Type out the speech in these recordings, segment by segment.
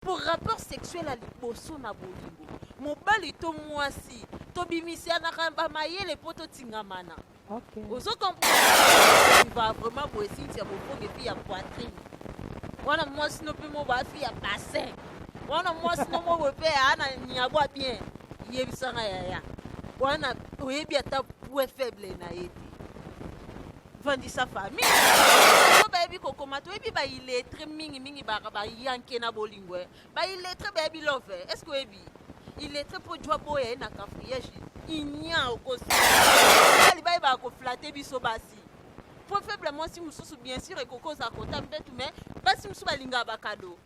po rapport sexuel ya liboso na bolingo mobali to mwasi tobimisianaka bamayele mpo totingamana okay. ozo comprendre vraiment boye sinti ya bokonge mpe ya poitrine wana mwasi no mpe mo bafi ya bassin wana mwasi no mo boye mpe ana nyabwa bien yebisanga yaya wana oyebi ata point faible na ye te vandisa famille oyo bayebi kokoma toyebi bailetre mingi mingi bayanke na bolingo eh. bailetre bayebi love eh. est ce que oyebi iletre mpo jwa boya ye na cafriage inia okosali bayebaka koflate biso basi mpo faible mwasi mosusu bien sûr ekoki oza kota mpetu me basi mosusu balingaka bakado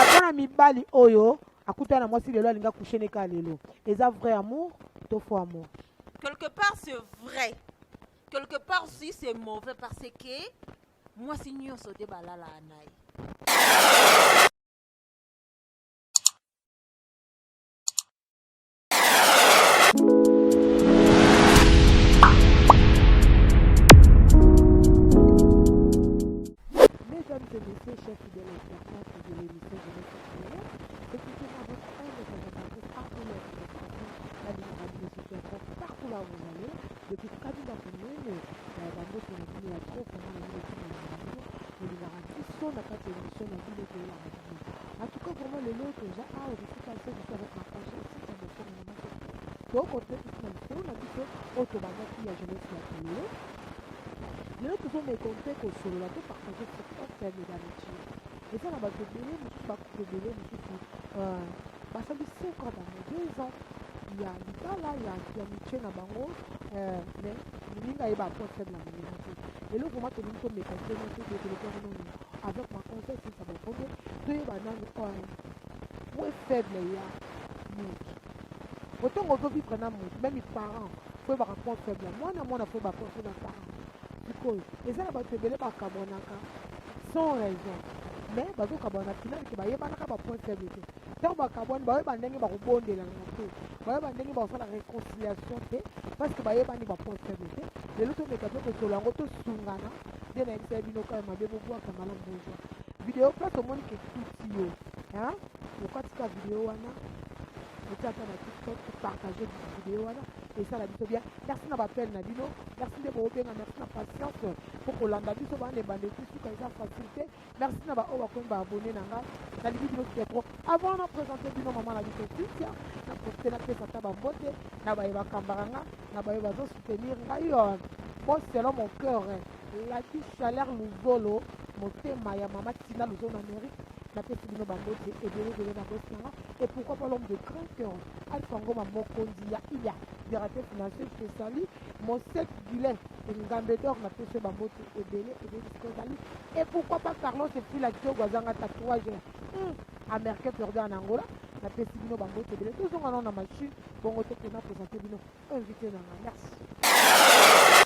ata na mibali oyo akutana na mwasi lelo alinga kushe neka lelo eza vrai amour to faux amour quelque part c'est vrai quelque part si c'est mauvais parce que mwasi nyonso te balalaa na ye Depuis kabila monene na ya bambote na bino ya trop vraiment na bino tina na bino olingaka biso na kati ya emission na bino toyelaka bino en tout cas vraiment lelo toza awa kofika se biso avec ma conscience ya bokongo na maso tokote na lisolo na biso oyo tobandaki ya jeunesse ya lelo lelo tozomeka mpe kosolola to partage sur open d'amitié eza na bato ebele mosusu bakupe ebele mosusu euh, basali sekwa bango deux ans ya libala ya mitie na bango euh, mais moninga ye baprofele na moninga te eloko ma tolingi tomeka ntena te tokoleka nini avec ma conseil sisa bakondo toyeba nani oyo mwe faible ya motu otango ozovivre na motu meme parent foyebaka point faible ya mwana mwana foyebaka point faible ya parent sikoyo eza na bato ebele bakabwanaka sans raison mais bazokabwana finale ke bayebanaka bapoint faible te ntango bakabwani bayeba ndenge bakobondelana te bayeba ndenge bakosala réconciliation te parce que bayebani bapoint faible te lelo tomeka mpe kosolo yango tosungana nde nayebisa ye bino kaka mabe bobwaka malamu bozwa video place omoni ke tuti yo okatika video wana otiaka na tiktok partage video wana esala biso bien merci na bapele na bino merci nde boobenga merci na patience mpo kolanda biso balemba ndeki suka eza facile te merci na baoyo bakomi baabone na nga nalingi bino kite trop avant na présente bino mama na biso kristian na profite napesa ata bambote na baye bakambaka nga na baye bazosoutenir ngai po selon mon cœur laki chaleur luzolo motema ya mama tina luzolo na mérite napesi bino bambote ebele ebele na bosi na nga et pourquoi pas l'homme de grand cœur Alpha Ngoma mokonzi ya iya directeur financier je te salue mon sec Guylain Ngambe d'or na pese ba mbote ebele ebele sikozali et pourquoi pas Carlos et puis la Kyogo azanga tatouage hmm. américain perdant en Angola na pesi bino ba mbote ebele tozonga nao na machine bongo te pena présenter bino invité na nga merci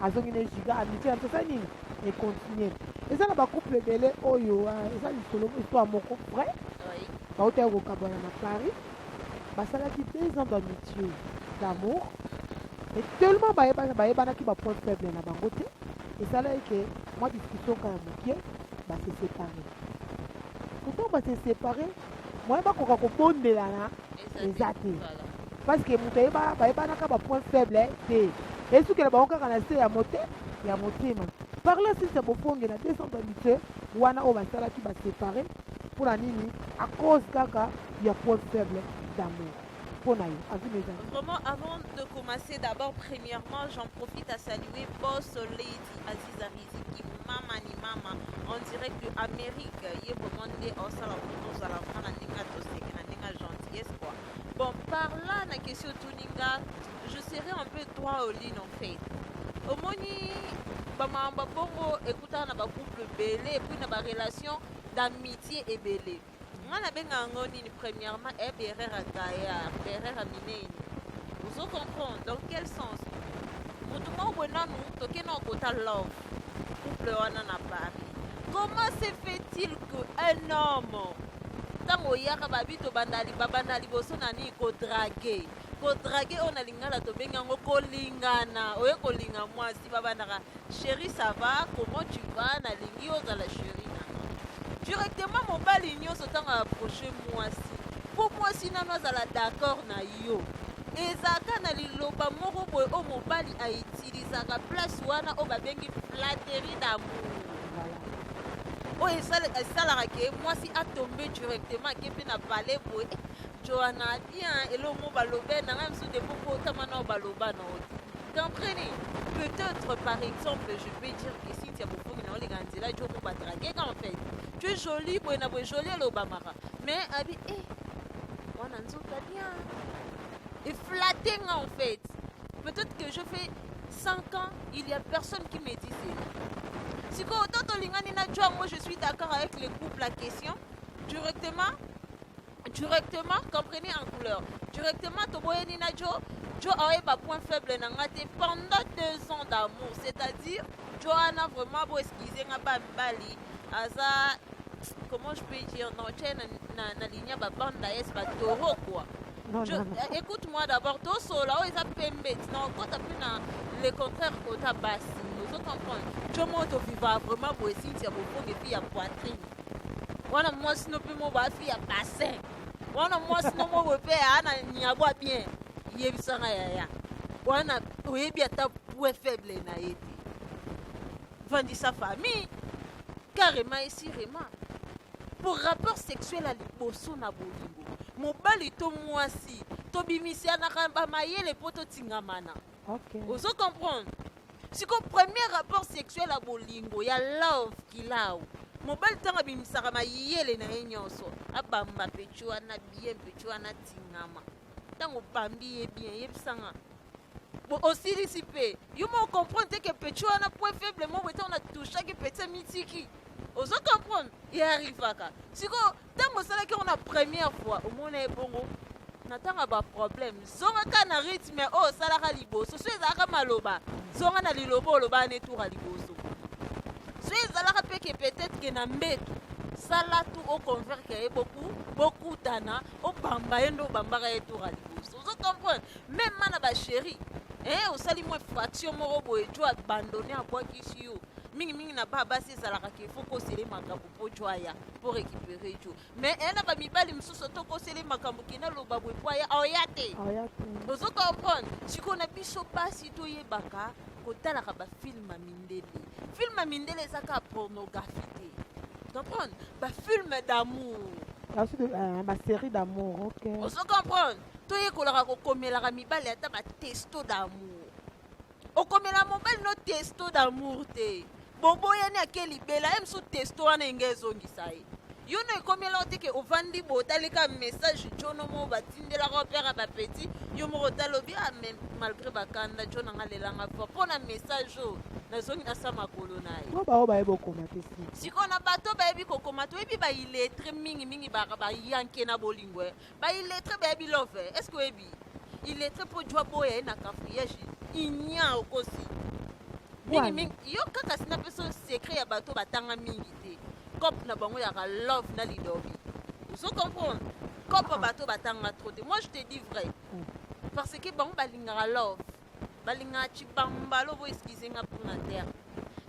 azongi ne giga amitié na biso asali nini econtinue eza na bacouple ebele oyo euh, eza lisolo histoire moko vrai bautaki kokabwana na paris basalaki deux ans d'amitié d'amour et tellement bayebanaki bapoint faible na bango te esalaki ke mwa discussion kaka moke basesepare pourtant basesepare moyen bakoka kobondelana eza te parce que moto ayeba bayebanaka ba point faible te esukela bango kaka na se ya mote ya motema par la suite ya bofonge na 200 bamite wana oyo basalaki basepare mpo na nini a cause kaka ya point faible d'amour mpo na yo avis mes amis vraiment avant de commencer d'abord premièrement j'en profite à saluer boss merci aziza riziki mama ni mama en direct de amérique ye vraiment nde osala mpo tozala vraimen na ndenge toseke na ndenge gentillesse quoi bon par là na question otuni nga je serai un peu droit au ligne en fait omoni bamama babongo ekutana na bacouple ebele epuis na barelation d'amitié ebele nga nabenga yango nini premièrement e berere ya gaillard berere ya minene ozo comprendre dans quel sens motu moko boye nanu toke na okota love couple wana na paris comment se fait-il que un homme ntango oyaka babi tobanda babanda liboso na nini kodrage Ko draguer oyo na lingala tobengi yango kolingana. Oye kolinga mwasi babandaka cherie ça va comment tu vas nalingi yo ozala cherie na nga. Directement mobali nyonso ntango approche mwasi mpo mwasi nano azala d'accord na yo ezalaka na liloba moko boye oyo mobali aitilizaka place wana oyo babengi flatterie d'amour oyo esalaka ke mwasi atombe directement ake mpe na pale boye Joana bien eloko moko balobe na ngai mosusu depo kotama nao baloba nao te comprenez peut-être par exemple je peux dire que si tia bofongi na oleka nzela jo moko batrageka en fait tu es jolie boye na boye jolie elobamaka mais abi e eh, wana nzoka bien eflate nga en fait peut-être que je fais 5 ans il y a personne qui me dit cela sikoyo oto tolingani na jo yango je suis d'accord avec le couple la question directement directement comprenez en couleur directement toboyani na jo jo ayeba point faible na nga te pendant deux ans d'amour c'est-à-dire jo wana vraiment bo excuse nga ba mibali aza comment je peux dire non tye na, na, na ligne ya babanda yes batoro quoi Je, eh, écoute-moi d'abord tosola oyo eza pembe ti na okota mpe na le contraire kota basi ozo comprendre jo mo toviva vraiment boye sinti ya bobonge mpe ya poitrine wana mwasi no mpe mobo afi ya bassin wana mwasi no mobo mpe ana nyagwa bien yebisanga yaya wana oyebi ata point faible na ye te vandisa famille carrément esirema mpo rapport sexuel ya liboso na bolingo mobali to mwasi tobimisianaka bamayele mpo totingamana okay. ozo comprendre siko premier rapport sexuel ya bolingo ya love kilau mobali ntango abimisaka mayele na ye nyonso abamba pecho wana bien pecho wana tingama ntango obambi ye bien yebisanga osilisi mpe yo mo comprendre te ke pecho wana point faible moko ntango na touchaki peti mitiki ozo comprendre ye arrivaka sikoyo ntango osalaki yango na première fois omona ye bongo na ntango ya baproblème zongaka na rythme oyo osalaka liboso so ezalaka maloba zonga na liloba olobaka ne tour ya liboso so ezalaka mpe ke peut-être ke na mbetu sala tu oconverke ye boku bokutana obamba ye nde obambaka ye tour ya liboso ozo comprendre meme na bachéri eh, osali mwa fraction moko boye jo abandone abwakisi yo mingimingi na ba basi ezalaka ke fo kosele makambo ojwaya pour récupérer jo mais eh, na bamibali mosusu tokoseli makambo kenda loba boye po aya aoya te ozo comprendre sikoyo na biso basi toyebaka kotalaka bafilme ya mindele filme ya mindele eza kaka pornographie te comprendre bafilme d'amour basérie euh, d'amour ok ozo comprendre toyekolaka kokomelaka mibali ata batesto d'amour okomela mobali no testo d'amour te boboyani ake libela ye mosusu testo wana enge ezongisa ye yo no ekomela yo te ke ovandi bo otali kaka message jono moko batindelaka opere ya bapetit yo moko otali obi ah, mais malgré bakanda jo nanga lelanga fort mpo na message oyo nazongi nasa makolo na ye po baoyo bayebi okoma te si sikoyo na bato bayebi kokoma toyebi baillettre mingi mingi bayanke na bolingo eh. ba illettré bayebi love eh? est ce que oyebi illettré mpo jwa boya ye na cafriage inia okosi mingi mingi yo kaka sina mpe so secret ya bato batanga mingi te cope na bango yaka love na lidobi ozo comprendre cope ah. bato batanga trop te moi je te dis vrai mm. parce que bango balingaka love balingaka cibambalo bo excuse nga mpo na terre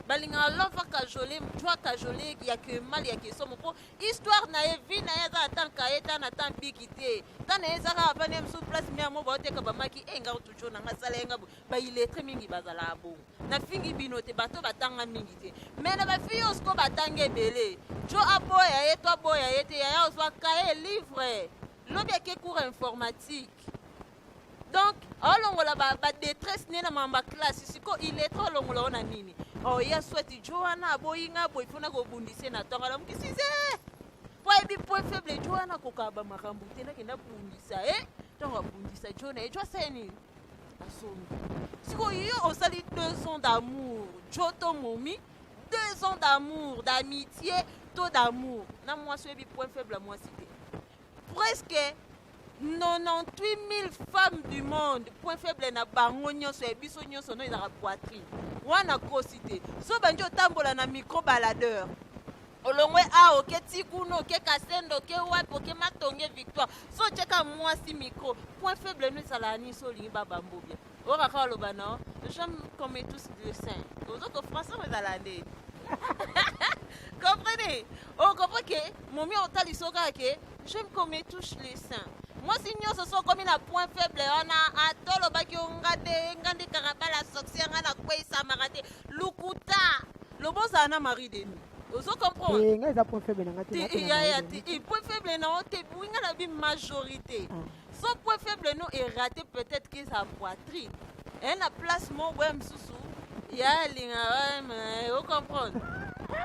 balingaka love akajole mtu akajole ya kemal ya kesomo mpo histoire na ye vie na ye aza ata nkaye ta na ta biki te ta na ye eza kaka vani ya mosusu place mia mo baoteka bamaki e nga toujours nanga sala ye nga bo bailetre mingi bazalaka bongo nafingi bino te bato batanga mingi te mai na bafille oyo sikoyo batanga ebele jo aboya ye to aboya ye te yaya ozwa kaye livre lobi ake cours informatique donc aolongola ba, ba détresse ne na mamba classe siko iletre olongola ona nini oye oh, aswati jo wana aboyi nga boyi mpona kobundise na ntongo alamuki size mpo ayebi point faible jo wana akokaka bamakambo te nakenda bundisa e eh? ntango abundisa jo na ye jo asala nini asombi sikoyo yo osali deux ans d'amour jo to momi deux ans d'amour d'amitié to d'amour na mwasi oyebi point faible ya mwasi te presque 98000 femmes du monde point faible na bango nyonso ya biso nyonso no ezalaka poitrine wana kosi te zoba nje otambola na micro baladeur olongwe a oke ti kuna oke kasendo oke wapi oke matonge victoire so otyeka mwasi micro point faible no ezalaka nini so olingi babambobia Ora kaka oloba no j'aime comme tous le saint ozoko français ezala nde comprenez okopo ke momi otalisa oyo kaka ke j'aime comme tous le saint mwasi nyonso so okomi na point faible wana ata olobaki yo nga te nga nde karabala soksi ya nga nakweisamaka te lukuta loba ozala na marie demi ozo comprendre eh, nga eza point faible na nga te ya ya te point faible na yo te winga na bi majorité ah. son point faible no erate peut-être que sa poitrine eye na place moko boye mosusu ya alingaka ocomprendre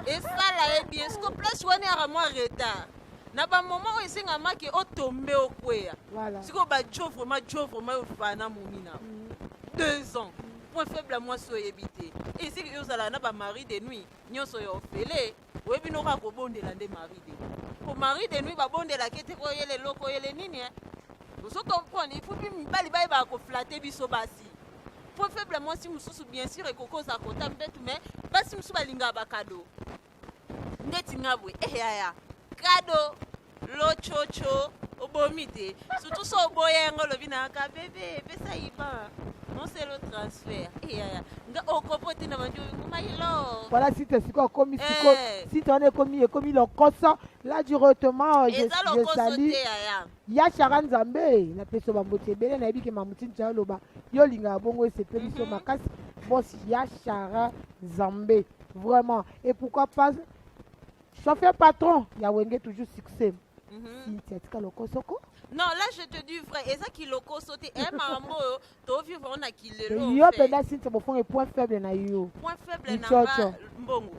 esala ye bien siko place wana yaka mwa retard na bamoment oyo esengamaki otombe okweya sikoyo bajo vraiment jo vraiment yo fana momina mm. deux ans point faible ya mwasi oyebi te esiki yo ozalaka na bamari de nuit nyonso ya ofele oye bino kaka kobondela nde marie de nuit po marie de nuit babondelaki ete koyele eloko oyele nini eh? ozo comprendre il faut mpe mibali bayebaka koflate biso basi mpo faible mwasi mosusu bien sûr ekoki oza kota mbetu mais basi mosusu balingaka bakado ndeti nga boye eyaya eh, kado lococo obomi te surtout so oboya yango olobi na yaka bebe epesa iban moselo transfert eyaya eh, nga okopo te na bandi oyokumayilo voilà site siko akomi siko eh. site wana ekomi ekomi lokoso la directement je sali ya shara nzambe napesa bamboti ebele nayebi ke mamutini tya oloba yo olingaka bongo esepeli so mhm. makasi bosi ya shara nzambe vraiment et pourquoi pas Chauffeur patron ya wenge toujours succès. Mm -hmm. Cynthia tika lokosoko. Non, là je te dis vrai, eza ki lokoso te eh maman oyo to vivre on a ki lelo. Yo penda Cynthia bofonga point faible na yo. Point faible na nga mbongo.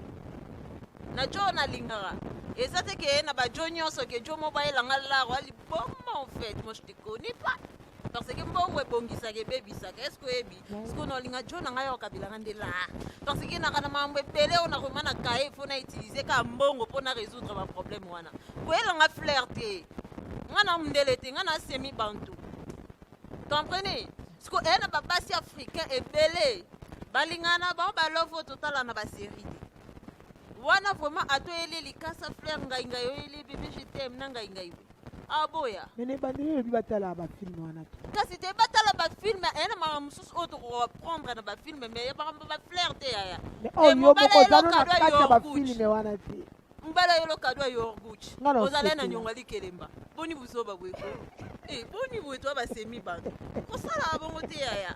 Na jo na lingara. Eza te ke na ba jo nyonso ke jo mo bayela nga laro ali bon en fait, moi je te connais pas. Parce que mbongo ebongisaka ebebisaka. Est-ce que oyebi? sikoyo na olinga jo na ngai ya kabila nga nde laa parce que naka na mambo ebele oyo nakoma na kaye mpo na utilize ka mbongo mpo na résoudre baproblème wana koyela nga flair te nga na mundele te nga na semi bantu comprenez sikoyo eye na babasi africain ebele balingana bango balovo totala na baserie te wana vraiment atoyeli likasa flair ngai ngai oyeli bebe je t'aime na ngai ngai aboya ah, mene ebandeli elobi batala bafilme wana te kasi te batala bafilme aya na makambo mosusu oyo tokoprendre na bafilme me makambo baflaire te yaya oh, mobalaelokadwayofilme wana te mbala yo lokado ya yorguch ozala na nyongo alikelemba boni buzoba bweko e eh, boni bwe to basemi bato kosalaka bongo te yaya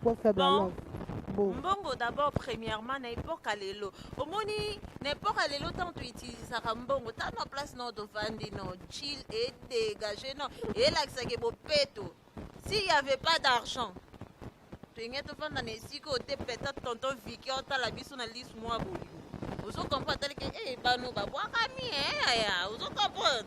trop faible bon. alors Bon. mbongo d'abord premièrement na epoque ya lelo omoni na epoque ya lelo ntango toutilisaka mbongo ta na place nao tovandi no chill et dégage no elakisaki bopeto s'il y avait pas d'argent tolingi tofanda na esika oyo te peut-être tonton viki otala biso na lisu mwa bolingo ozokomprendre atalike e bano babwakami eaya ozokomprendre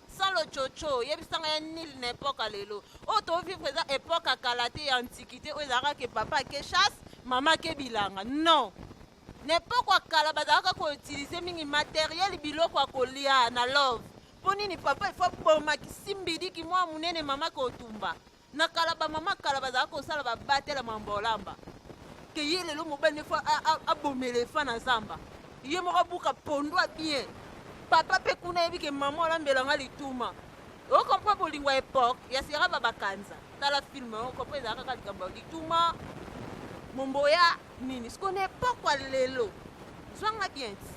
salo coco yebisa ngai ya nil na epoka lelo oyo oh, tovivre eza epoke ya kala te ya antiquité oyo ezalaka ke papa ake chasse mama ake bilanga non na epoke ya kala bazalaka koutilize mingi materiele biloko ya kolia na love mpo nini papa ifo abomaki simbidiki mwa monene mama kotumba na kala bamama kala bazalaka kosala babatela mambolamba ke ye lelo mobali nefo abomela efa na zamba ye moko abuka pondo a bien papa mpe kuna ayebi ke mama olambela nga lituma okompre bolingo ya epoke ya sera babakanza tala filme okompre ezalaka kaka likambo ya lituma momboya nini siko na epoke ya lelo zwanga bien ti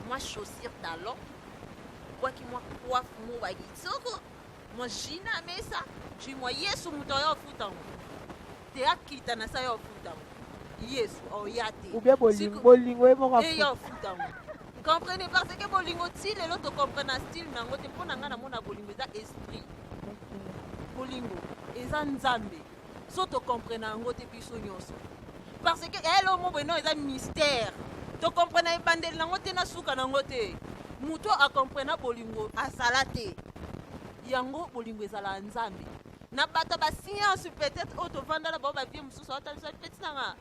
mwa chaussure talon bwaki mwa coiffe mobaki soko mwa ji na mesa ji mwa yesu moto ayo afuta yango te akita na sa yo afuta yango yesu oya te ubia bolingo ye moko eye afuta yango comprene parce que bolingo ti lelo tocomprena style na yango te mpo na ngai namona bolingo eza esprit bolingo eza nzambe so to comprena yango te biso nyonso parce que yael omo boye no eza mystère to comprena ebandeli nango te na suka nango te moto a comprena bolingo azala te yango bolingo ezala ya nzambe na bato ya basianse peut-être oyo tovanda na bango bavie mosusu aotalisa peti nanga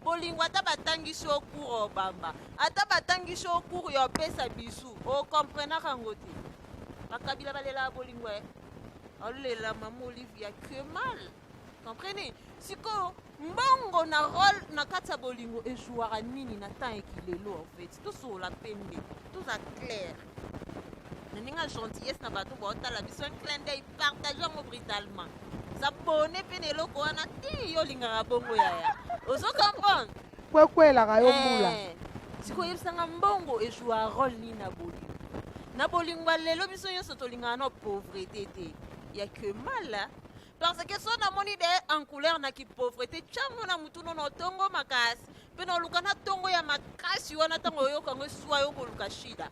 bolingo ata batangisi yo cour obamba ata batangisi yo cour ya opesa bisu okomprenaka yango te bakabila balelaka bolingo e alela mama olivia que mal comprenez sikoyo mbongo na role na kati ya bolingo ejouaka nini na temps ya kilelo en fait tosolola pembe toza claire na ndenge ya gentillesse na bato baotala biso un clin d'œil partage yango brutalement zabone mpe na eloko wana ti yo olingaka bongo yaya ozo comprendre kwekuelaka yo mbula Eh, sikoyo yebisanga mbongo ejua role nini na bolingo na bolingo ya lelo biso nyonso tolingaka na pauvrete te ya que mala parce que so namoni de en couleur na kipauvrete cango na motu no na otongo makasi mpe na oluka na tongo ya makasi wana ntango oyoka yango eswa yo koluka shida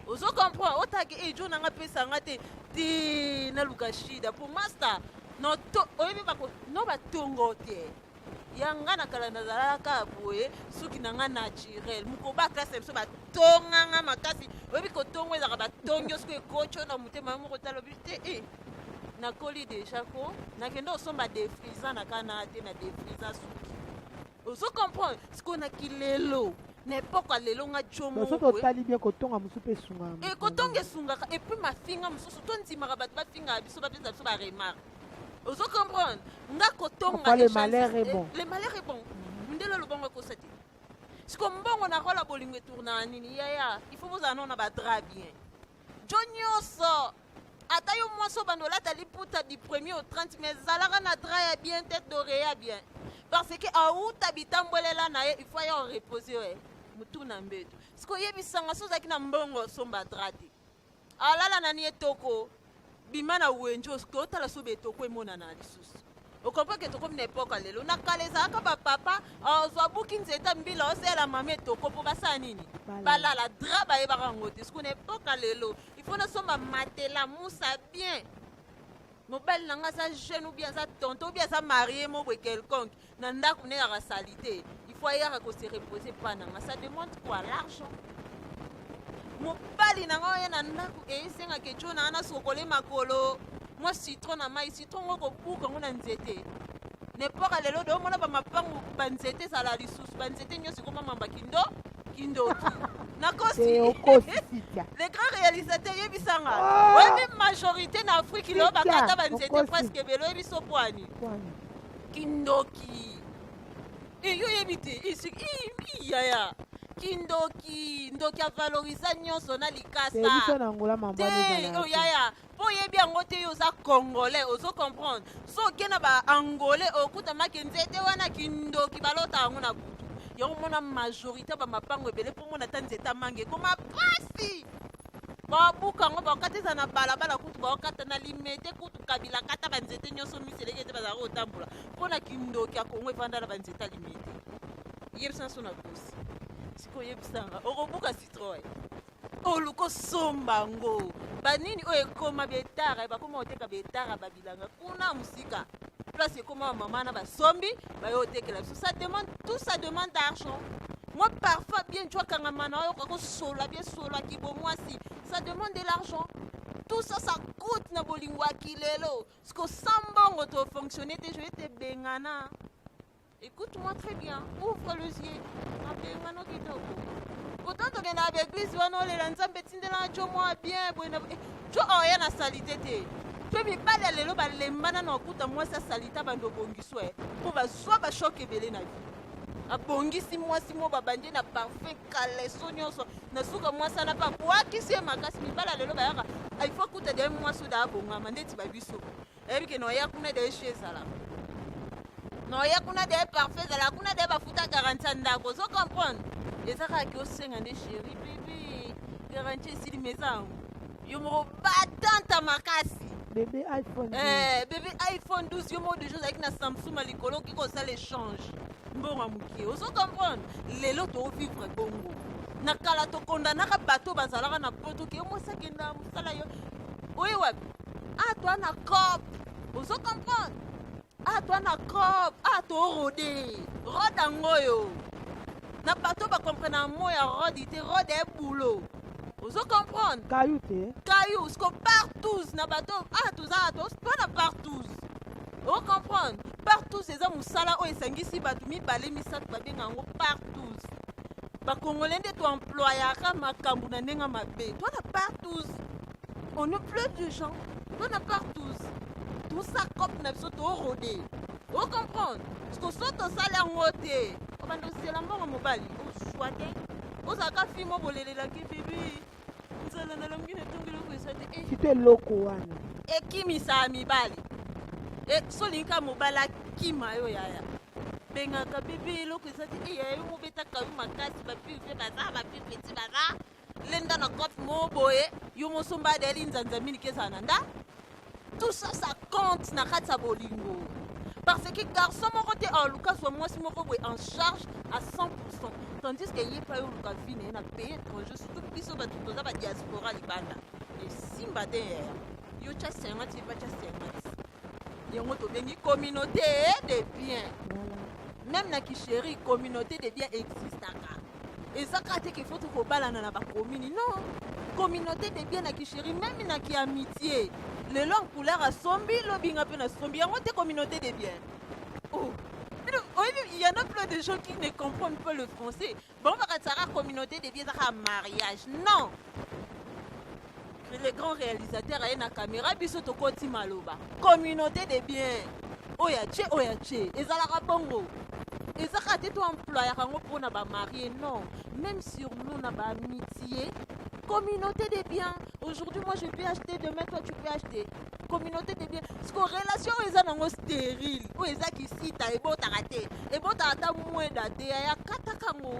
ozo comprendre otake ejo na nga pesa nga te te naluka shida mpo masta no to- oyebi bako no batongo te ya nga na kala nazalaka kaka boye suki na nga naturel mokoba klase ya biso batonga nga makasi oyebi kotongo ezalaka batongi yo soki ekoco na motema yo moko talobi te e eh, nakoli deja ko nakende osomba defrisa na kana te na defrisa suki ozo comprendre sikoyo na kilelo na epoke ya lelo nga jomosoki otali bien kotonga mosusu mpe esungaka eh, kotonga esungaka epuis mafinga mosusu tondimaka bato bafingaka biso bapesa biso baremarke ozo comprendre nga kotonga Papa, le echange- malheur est eh, bon. le malheur est bon mundele lobango ekosa te siko mbongo na rola bolingo etournaa nini yaya il faut bozala nao na badra bien jo nyonso ata yo mwasi obanda olata liputa du premier au 30 mai zalaka na dra ya bien tete doreya bien parce que auta bitambwelela na ye il faut aya orepose yo eh, motu na mbeto siko oyebisanga so ozalaki na mbongo osomba dra te alala nani etoko bima na wenji otala soki betoko emonana na lisusu okompreke tokomi na epoka lelo na kala ezalaka bapapa ozwa buki nzeta mbila oseyela mama etoko mpo basala nini balala dra bayebaka yango te soki na epoka lelo ifo nasomba matela musa bien mobali na ngai aza jeune obi aza tonto obi aza marie mobwe quelconque na ndako ne kaka salite il faut ayaka ko se reposer pa na nga ça demande quoi l'argent mobali na nga oye na ndako esenga ke jo na ana sokole makolo mwa citron na mai citron ngo kobuka ngo na nzete nepoka lelo de omona bamapangu banzete ezala lisusu banzete nyonso ekoma mamba kindo kindoki nakosi le grand réalisateur yebisanga ah! oyebi majorité na afrique lelo bakata banzete presque ebele oyebi so bwani kindoki eh, yo oyebi te eh, eh, yaya kindoki ndoki avalorisa nyonso na likasa na ngola mambwa te oh, yaya mpo oyebi yango te yo oza congolais ozo comprendre so oke na baangolais okutamaki nzete wana kindoki balota yango na kutu yango mona majorité ya bamapango ebele mpo mona ata nzete amanga ekoma pasi babuka yango bakokata eza na balabala kutu bakokata na limete kutu kabila kata banzete nyonso miseleke te bazalaka kotambola mpo na kindoki ya kongo efanda na banzete ya limete yebisa nso na kosi sikoyo yebisanga okobuka citroy oluka osomba yango banini oyo ekoma betara bakoma koteka betara babilanga kuna mosika place ekoma bamama na basombi baye otekela biso ça demande tout ça demande d'argent moi parfois bien tu akangama na oyoka kosola bien sola kibomwasi ça demande de l'argent tout ça ça coûte na bolingo ya kilelo siko sans mbongo tofonctionne te joye te bengana Écoute moi très bien, ouvre le yeux. Mapengano kitoko. Pourtant tokenda na baeglise wana olela nzambe etindelanga jo mwa bien boye na eh, jo oya na salite te to mibali ya lelo balembana na okuta mwasi asalita bando obongiswa ye mpo bazwa bashoke ebele na vie abongisi mwasi moko babandi na parfum kaleso nyonso na suka mwasi wana mpe abwakisi ye makasi mibali ya lelo bayaka ah, il faut kuta de mwasi oyo daabongama ndeti babiso eyebi ke noya kuna de esu ezala noya kuna de parfait ezala kuna de bafuta garanti ya ndako ozo comprendre eza kaka ke osenga nde sheri bibi garanti esili meza yango yo moko batanta makasi bebe iphone eh, bebe iphone 12 yo moko deja ozalaki na samsung ya likolo okoki kosala échange mbongo ya moke ozo comprendre lelo toovivre bongo na kala tokondanaka bato bazalaka na poto ke yo mwasi akenda mosala yo oye wapi ah toi na cop ozo comprendre ah toi na cop ah to rode rode yango oyo na bato bakomprena mo ya rode te rode e bulo ozo comprendre kayu te kayu siko partous na bato ah toza atos mpo na partous o comprendre partous eza mosala oyo esangisi bato mibale misato babenga yango partous bakongole nde toemployaka makambo na ndenge mabe twana partous On ne pleut de gens. On a part tous. Tout ça comme na biso to rodé. O comprendre? Parce que soit on sala yango te. O bando sela mbongo mobali. O choix te. O zaka fi mo bolelela ki bibi. Nzala na longi na tongi loko esa te. Eh, Site loko wana. ekimisa mibali e, solinga mobali akima yo yaya bengaka bebe eloko eza te eya yo mobetaka yo makasi babibi mpe baza babibi ti baza lenda na cote moko boye yo mosomba adeli nzanza mingi ezala na nda tout ça ça compte na kati ya bolingo parce que garçon moko te aoluka zwa mwasi moko boye en charge à 100 tandis que ye mpe ayoluka vi na ye na pays étranger surtout biso bato toza badiaspora libanda esimba te eh. yo tya sengati ye mpe atya sengati yango tobengi communauté de bien même na kisheri communauté de bien existaka eza kaka te qu'il faut tokobalana na bakomini non communauté de bien na kisheri meme na kiamitie lelo nkuleur asombi lobi nga mpe nasombi yango te communauté de bien oh. il y en a plein de gens qui ne comprennent pas le français. Bon, on va la communauté des biens à mariage. Non, le grand réalisateur aye na caméra biso tokoti maloba communauté de bien oyo ya ce oyo ya ce ezalaka bongo eza kaka te toemployaka yango mpo na bamarie non même sur nous na baamitie communauté de bien aujourd'hui moi je peux acheter demain toi tu peux acheter communauté de bien siko relation oyo eza nango stérile oyo eza kisita ebotaka te ebotaka ata mweda te yaya kataka yango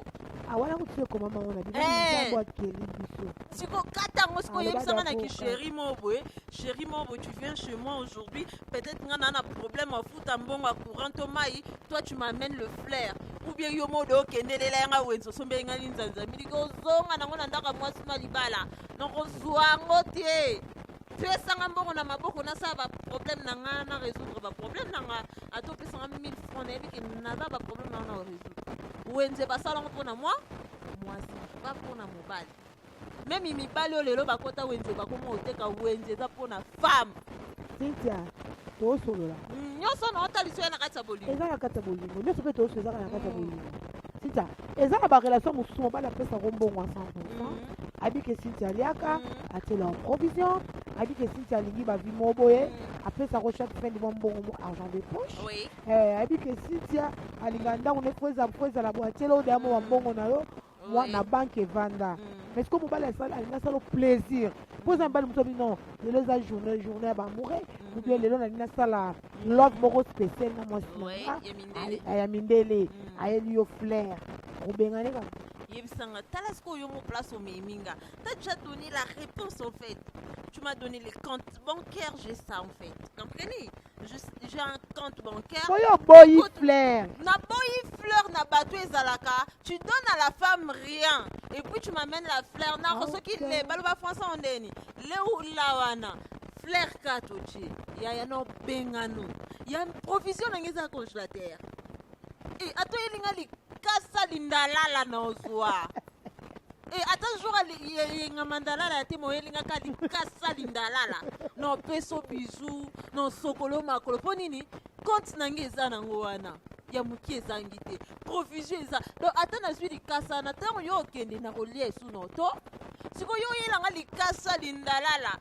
awala kutu ekomama ngo na bino Eh. nzambo akeli biso siko kata yango siko Aloba oyebisanga na dakoka. kisheri moko boye sheri moko boye tu viens chez moi aujourd'hui peut-être nga naa na problème afuta mbongo ya courant to mai toi tu m'amène le flair ou bien yo moko de okendelela yanga wenze osombeli nga linzanza miliki ozonga nango na ndako ya mwasi na libala nakozwa yango te pesanga mbongo na maboko nasala baproblème na nga na résoudre baproblème na nga ata opesanga 1000 franc nayebi ke naza baproblème nao na résoudre wenze basalango mpo na mwa mwasi ba mpo na mobali meme mibali oyo lelo bakota wenze bakoma oteka wenze eza mpo na femme cynthia tosolola nyonso na otalisi oya na kati ya bolingo eza na kati ya bolingo nyonso mpe tosolo ezaka na kati ya bolingo Cynthia, eza na ba relation mosusu mobali apesaka mbongo ya 100%. Mm. Abi ke Cynthia aliaka, mm. atiela en provision, abi ke Cynthia alingi ba vie moko boye, mm. apesa ko chaque fin du mois mbongo mo argent de poche. Oui. Eh, abi ke Cynthia alinga ndako ne kweza kweza la boatiela o damo wa mbongo na yo. Moi, oui. na banque evanda. Mm. Mais ce que mobali asala alinga sala plaisir. Mpo eza mobali mosusu abi non, lelo eza journée journée ya ba amoureux, ou bien lelo nalingi nasala love moko special na mwasi na Ouais, nga ya mindele. Ay- ya mindele Mm. ayeli yo flair obengani ba yebisanga tala sikoyo yo mo place omemi nga ta tu as donné la réponse en fait tu m'as donné les comptes bancaires j'ai ça en fait comprenez Je- j'ai un compte bancaire oyo oboyi Kutu- flair naboyi fleur na bato ezalaka tu donnes à la femme rien et puis tu m'amènes la fleur nako soki Ok. le baloba français ondeni leula wana Flair carte otie yaya na obengano ya provision na ngai eza congélateur e ata oyeli ngai likasa lindalala na ozwa e ata jour yenga mandalala ya te moyeli ngai ka likasa lindalala na opeso bizu na osokolo makolo mpo nini compte na ngai eza nango wana ya moke ezangi te provision eza donc ata nazwi likasa na ntango yo okende na kolia esu na oto sikoyo yo oyelanga likasa lindalala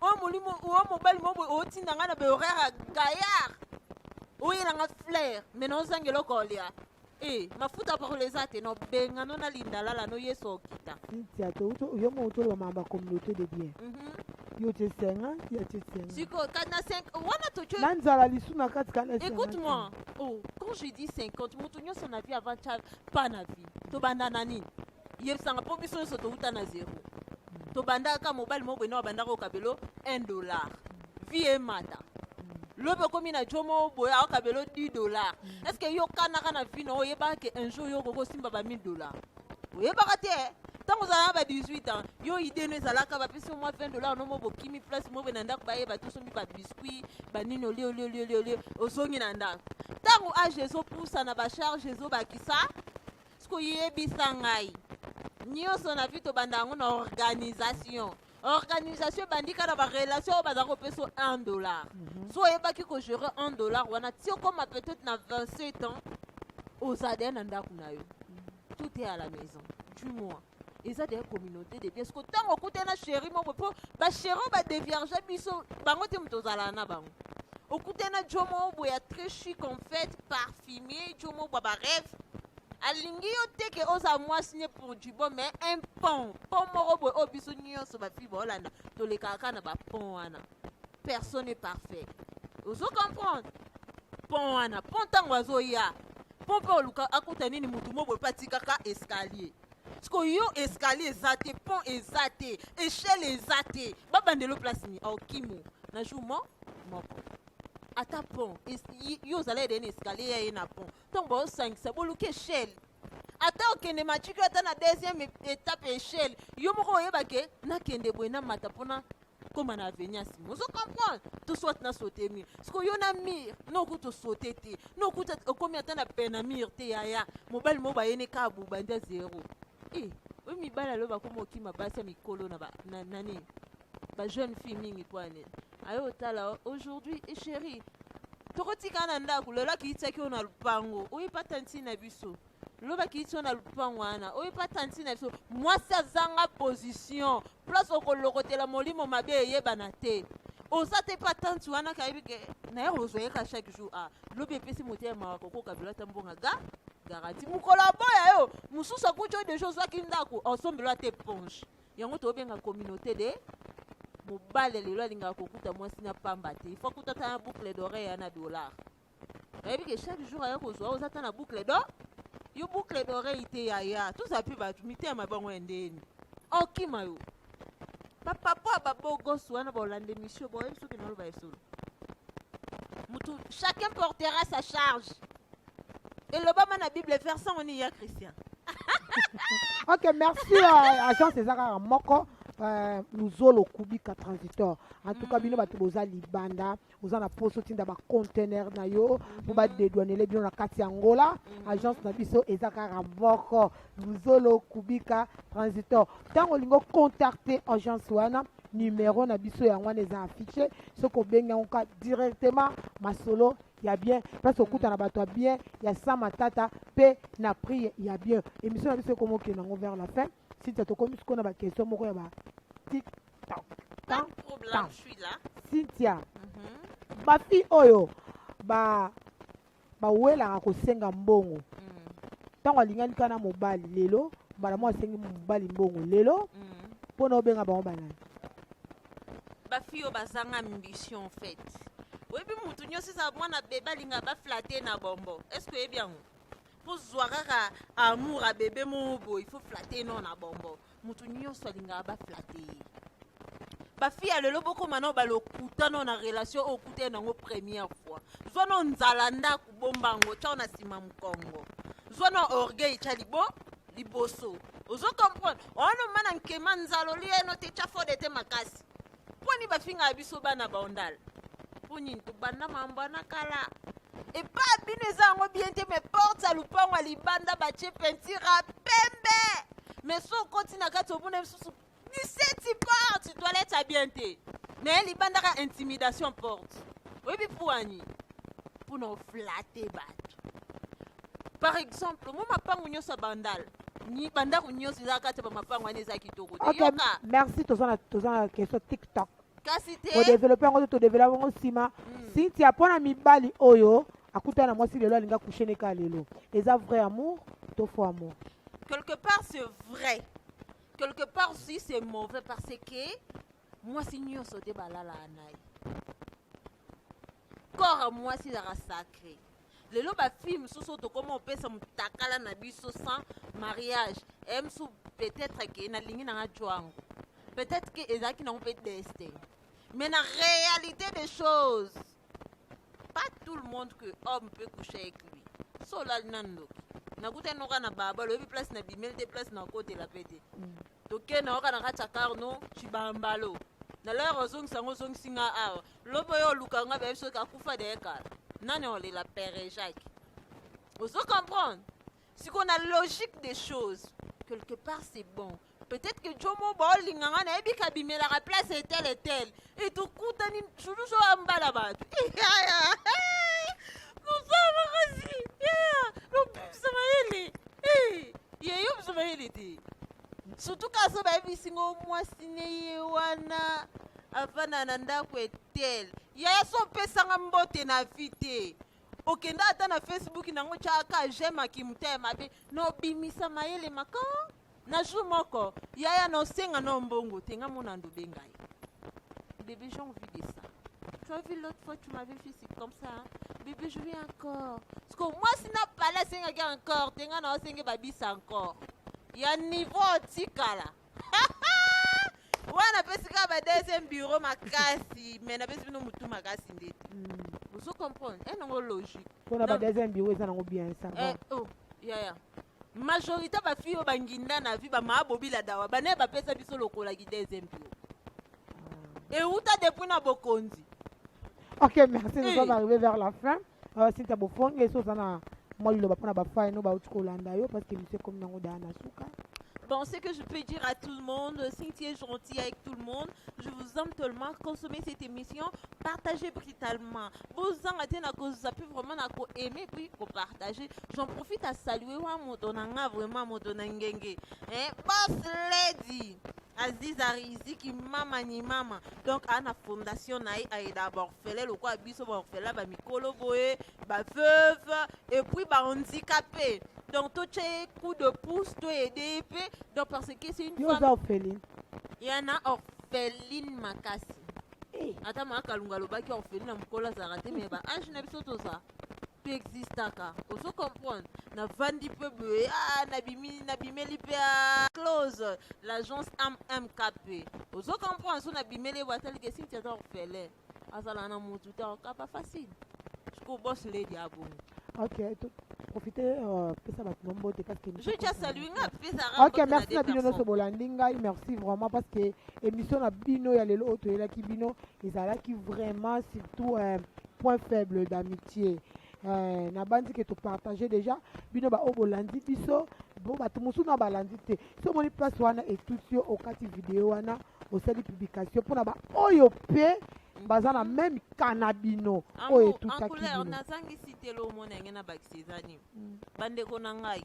oyo molimo oyo mobali mo boye otinda ngai na behoraire ya gaillard oyela nga flaire me naozanga eloko olia e eh, mafuta apakola eza te nobengano na lindalala no yesu okita ntia yo mo otoloba mamba communauté de bien mhm. yo te senga ya te senga siko kati na 5 wana toco na nzala lisu na kati kana écoute moi oh quand je dis 50 moto nyonso na vie avant chave pas na vie tobanda na nini yebisanga mpo biso nyonso towuta na zero tobandaka mobali moko boye na babandaka okabelo 1 dollar vie emata lobi okomi na jo moko boye aokabelo 10 dollar est ce que yo kanaka na vie na oyo oyebaka ke un jour yo okoki osimba ba 1000 dollar oyebaka te ntango ozala na ba 18 ans yo ide no ezalaka bapesi yo mwa 20 dollar nomo bokimi place moko na ndako bayeba te osombi babiscuit banini olie olie olie olie olie ozongi na ndako ntango age ezopusana bacharge ezobakisa siko yebisa ngai nyonso na vi tobanda yango na organisation organisation ebandi kaka na barelation oyo bazali kopesa 1 dollar mhm. so oyebaki kogere 1 dollar wana ti okoma peut-être na 27 ans ozala deya na ndako na yo mhm. tout est à la maison du mois eza deya communauté de bien siko ntango okutani na sheri moko mpo basheri oyo badevierge biso bango te moto ozalaka na bango okutani na jo moko boye ya très chi confete parfumé jo moko bwa bareve alingi yo te ke ozala mwasi ne pour du bon mais un pont pont moko boye oyo biso nyonso bafili baolanda tolekaka kaka na bapont wana personne est parfait ozo comprendre pont wana pont ntango azoya mpo mpe oluka akuta nini motu mo boye mpe atikaka escalier siko yo escalier eza te pont eza te echelle eza te babandelo place nini aokimo na jour mo moko ata pont yo ozalaki deni escalier ya ye na pont ntango baosangisa boluki echelle ata okende matiki ata na deuxième étape ya echelle yo moko oyeba ke nakende boye namata mpona koma na aveni ya nsima ozo comprendre to soit na saute mur siko yo na mur noku tosaute te noku okomi ata na pene na mur te yaya mobali moko bayene kaka bobanda zero e eh, oyo mibali alo bakoma okima basi ya mikolo na nani bajeune fille mingi mpo ane aye otala aujourd'hui e eh, chéri tokotikana na ndako lelo akiyisaki oyo na lopango oyebata ntina biso loba kiitio na lupango wana oyo epa tanti na biso mwasi azanga position place okolokotela molimo mabe eyebana te oza te mpe atanti wana kayebi ke naye ozwa ye ka chaque jour a ah, lobi epesi motema mawa kokoka bilata mbonga ga garanti mokolo aboya yo mosusu akuti oyo deja ozwaki ndako osombelo ata eponge yango tobenga communauté de mobali lelo alingaka kokuta mwasi na pamba te ifo akutata na boucle d'oreille ya na dollar nayebi ke chaque jour aya kozwa oza ata na boucle do yo boucle d'oreille te yaya toza mpe bato mitema bango ya ndeni okima yo bapapo ya babogos wana baolanda emission boyebi soki naloba ya solo motu chacun portera sa charge elobama na bible verse yango nini ya christian ok merci uh, agence eza kaka moko uh, luzolo kubika transitor en tout cas bino bato boza libanda mm. oza na mposa otinda bacontener na yo mpo badedwanele bino na kati ya ngola mhm. agence na biso eza kaka moko luzolo kubika transitor ntango olingi ocontacte agence wana numero na biso yango wana eza affiche soki obengi yango ka directement masolo ya bien place okutana bato ya bien ya sa matata mpe na prix ya bien émission na biso ekomi okende yango vers la fin sita tokomi sikoyo na baquestion moko ya ba cynthia mhm. bafi oyo ba bawelaka kosenga mbongo mm. ntango alingani kana mobali lelo mbala moko asengi mobali mbongo lelo mm. mpo na obenga bango banani bafi oyo bazanga ambition fait oyebi motu nyonso eza mwana bebe alinga baflate na bombo est ce que oyebi yango kozwa kaka amour ya bebe moko boye ifo flate no na bombo moto nyonso alingaka baflate ye bafi ya lelo bokoma nao balokuta nao na relation oyo okuta ye nango première fois zwa nao nzala ndako bomba yango tyao na nsima mokongo zwa nao orgueil tya libo liboso ozo comprendre wana omana nkema nzala olia eno te tya fode te makasi mpo nini bafingaka biso bana baondala mpo nini tobanda mambo wana kala epa bino eza yango bien te me porte ya lupango ya libanda batie pentire ya pembe me so okoti na kati omona lisusu 17 porte toilette ya bien te me libandaka intimidation porte oyebi puani mpo na oflate bato par exemple mwa mapangu nyonso ya bandal ni- bandako nyonso eza kati ya bamapangu wana eza kitoko te Ok, yoka merci toza na toza na question tiktok kasi te kodevelope yango to todevelope yango nsima Mm. sintia mpo na mibali oyo akutana na mwasi lelo alinga kushe ne kaka lelo eza vrai amour to faux amour quelque part c'est vrai quelque part aussi c'est mauvais parce que mwasi nyonso te balalaa na ye corps ya mwasi ezalaka sacre lelo bafille mosusu oyo tokoma opesa motakala na biso sans mariage eye mosusu peut-être ke nalingi nanga jwango peut-être ke ezalaki nango mpe destin mais na réalité des choses pas tout le monde que homme peut coucher avec lui so olali na ndoki nakutani noka na baba loyebi place na bimeli te place na kotela mpe te mm. tokende oka na kati ya carno cibambalo na lere ozongisa yango ozongisi nga awa lobi oyo oluka nga bayebi soki akufa deye kala nani olela pere jacques ozo comprendre sikoyo na logique des choses quelque part c'est bon peut-être que jomo baolinga nga nayebi kabimelaka place etel etel etokutani sudusu oya mbala bato yaya mosala makasi yaya lobimisa mayele yeyo biso mayele te surtout kasi bayebisi ngo mwasi ne ye wana avanda na ndako etel yaya so opesanga mbote na vi te okenda ata na facebook nango tyaka jema kimuta ya mabe na obimisa mayele maka na jour moko yaya na osenga na mbongo te nga mona ndobe ngai bebe j'ai envie de ça tu as vu l'autre fois tu m'avais fait c'est comme ça hein? bebe je vais encore parce que mwasi na pala asengaki encore te nga na osenge babisa encore ya niveau otikala wana apesi kaka ba deuxième bureau makasi mais napesi bino motu makasi ndete hmm. ozo comprendre e eh, nango logique mpona ba deuxième bureau eza nango bien ça va eh, oh, yaya majorité bafille oyo banginda na vi bamaa bobila dawa banaye bapesa biso lokolaki deuxième bureau ah. euta depuis na bokonzi ok merci nous eh. sommes arrivé vers la fin awa sinta bofongi esi oza na mwa liloba mpo na bafai no bauti kolanda yo parce que misio ekomi nango daa na suka Bon, ce que je peux dire à tout le monde, Cynthia est gentille avec tout le monde. Je vous aime tellement. Consommez cette émission, partagez brutalement. Vous en avez na ko zapper vraiment na ko aimer puis ko partager. J'en profite à saluer wa modonanga vraiment modonangenge. Hein, boss lady. Aziza Riziki mama ni mama. Donc à la fondation naï a d'abord orphelin lokola biso baorphelin bamikolo boye baveuve epuis bahandikape donc totya ye coup de pouce toyede ye mpe donc parce que c'est une oza orpheline yana orpheline makasi eh. ata maakalunga alobaki orpheline na mokolo azalaka te mais baange na biso toza to existaka ozo comprendre navandi mpe boye ah, nabimi nabimeli mpe ah, close l'agence mmkp ozo comprendre so nabimeli ebo atali ke sinti ata orfele azala na motu te okapa facile siko bos ledi abongo ok profite euh, pesa bato na mbote ok merci na bino nyonso bolandi ngai merci vraiment parce que émission na bino ya lelo oyo toyelaki bino ezalaki vraiment surtout euh, point faible d'amitié eh, nabanzi ke topartage déjà bino baoyo bolandi biso bo bato mosusu na balandi te so omoni place wana etuti yo okati video wana osali publication mpona baoyo mpe baza na meme kana bino oyo etutaki bino nazangisi te lo omona yange na bakisi eza nini mm. bandeko na ngai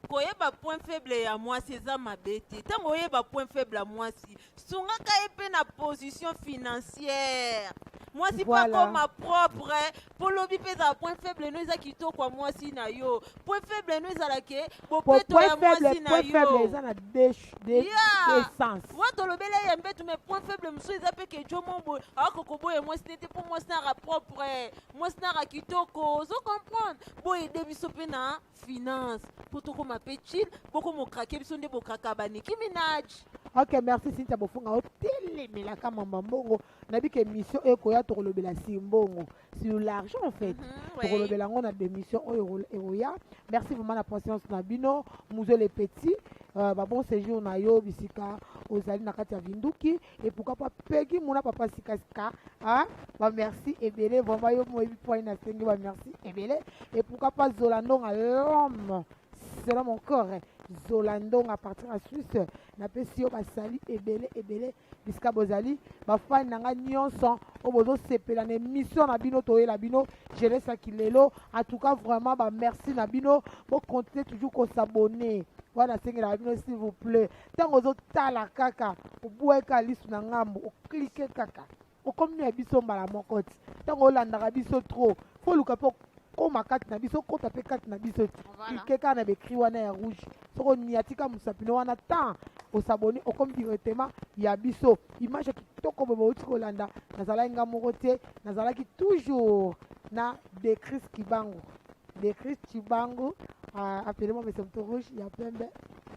koyeba point faible ya mwasi eza mabe te ntango oyeba point faible ya mwasi sungaka ye mpe na position financière mwasi mpo Voilà. akoma propre mpo lobi mpe ezala point faible no eza kitoko ya mwasi na yo point faible no ezala ke Po- bopeto point ya mwasi faible na point faible yo eza na deux ch- deux- Yeah. deux sens wa tolobela ye mbetu me point faible mosusu eza mpe ke jo mombo aoko koboya mwasi te te mpo mwasi naka propre mwasi naka kitoko ozo comprendre boyede biso mpe na finance mpo tokoma mpe chill bokoma okrake biso nde bokraka baniki minaj ok merci sintia bofunga otelemelaka mamba mbongo nayebi ke émission oyo ekoya tokolobela si mbongo sur l'argent en fait mhm, tokolobela yango na démission oyo ekoya merci vraiment na patience na bino muzo le petit euh, babon séjour na yo bisika ozali na kati ya vinduki et pourquoi pas Peggy Mouna Papa Sikasika hein? bah merci Ebele vraiment yo moi point na sengi bah merci Ebele et pourquoi pas Zolandon à l'homme selon mon corps hein. Zolandon à partir de Suisse na pesi yo bah sali Ebele Ebele bisika bozali bah fan nanga nyonso au bozo sepela na émission na bino toye la bino je laisse à Kilelo en tout cas vraiment bah merci na bino pour continuer toujours qu'on s'abonner voilà c'est la bino s'il vous plaît ntango ozotala kaka obuaka lisu na ngambo oklike kaka okomi ya biso mbala moko ti ntango olandaka biso trop foluka mpe okoma kati na biso okota mpe kati na biso ti klike kaka na baekri wana ya rouge soki oniatika mosapino wana temps osaboni okomi directement ya biso image kitoko boye bouti kolanda nazalaki nga moko te nazalaki toujours na decris kibangu decris kibangu uh, ah, appelement mesemto rouge ya pembe